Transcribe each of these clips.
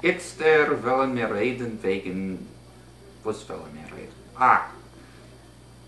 איצטער וועלען מיר רעדען וועגען, וואס וועלען מיר רעדען? אה!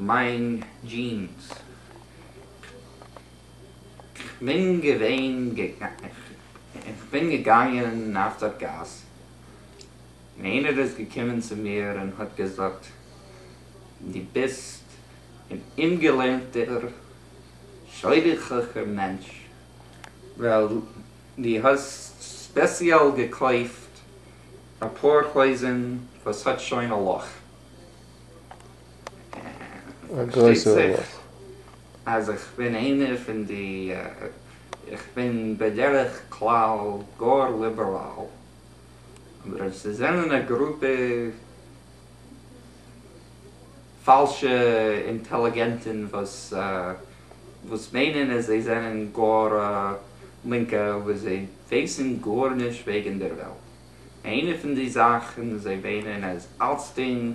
מיין דזשינס. כ'בין געווען, כ'בין געגאנגען אויף דער גאס, און איינער איז געקומען צו מיר און האט געזאגט, דו ביסט אן אומגעלערנטער, שוידערליכער מענטש. ווייל די האסט ספעציעל געקויפט אפאר הויזן וואס האט שוין א לאך, פארשטייט זיך אז איך בין איינער פון די, איך בין בדרך כלל גאר ליבעראל, אבער אויב ס'זענען א גרופע. פאלשע אינטעליגענטן וואס מיינען אז זיי זענען גאר לינקע אבער זיי ווייסן גארנישט וועגן דער וועלט איינע פון די זאכן זיי מיינען אז אלצדינג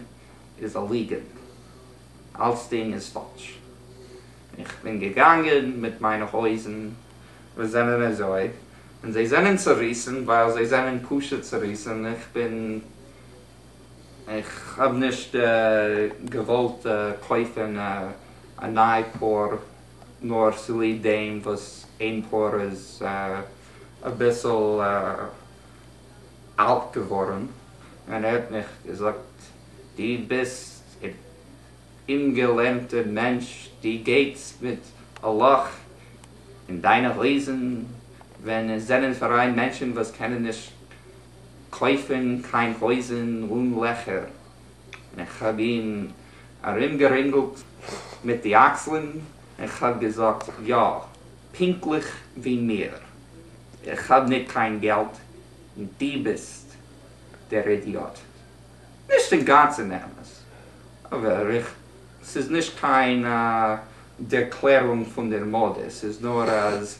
איז א ליגענט אלצדינג איז פאלש איך בין געגאנגען מיט מיינע הויזן וואס זענען אזוי און זיי זענען צוריסן ווייל זיי זענען פשוט צוריסן איך בין איך האב נישט געוואלט קויפן א ניי פאר נאר צוליב דעם וואס איין פאר איז אביסל אלט געווארן, און ער האט מיך געזאגט דו ביסט אן אומגעלערנטע מענטש דו גייטס מיט א לאך אין דיינע הויזן ווען עס זענען פאראן מענטשן וואס קענען נישט קויפן קיין הויזן אן לעכער, און איך האב אים ארומגערינגלט מיט די אקסלען און כ'האב געזאגט, יא, פונקטליך ווי מיר, איך האב ניט קיין געלט און דו ביסט דער אידיאט. נישט אינגאנצן אמת, אבער איך, ס'איז נישט קיין דערקלערונג פון דער מדה, ס'איז נאר אז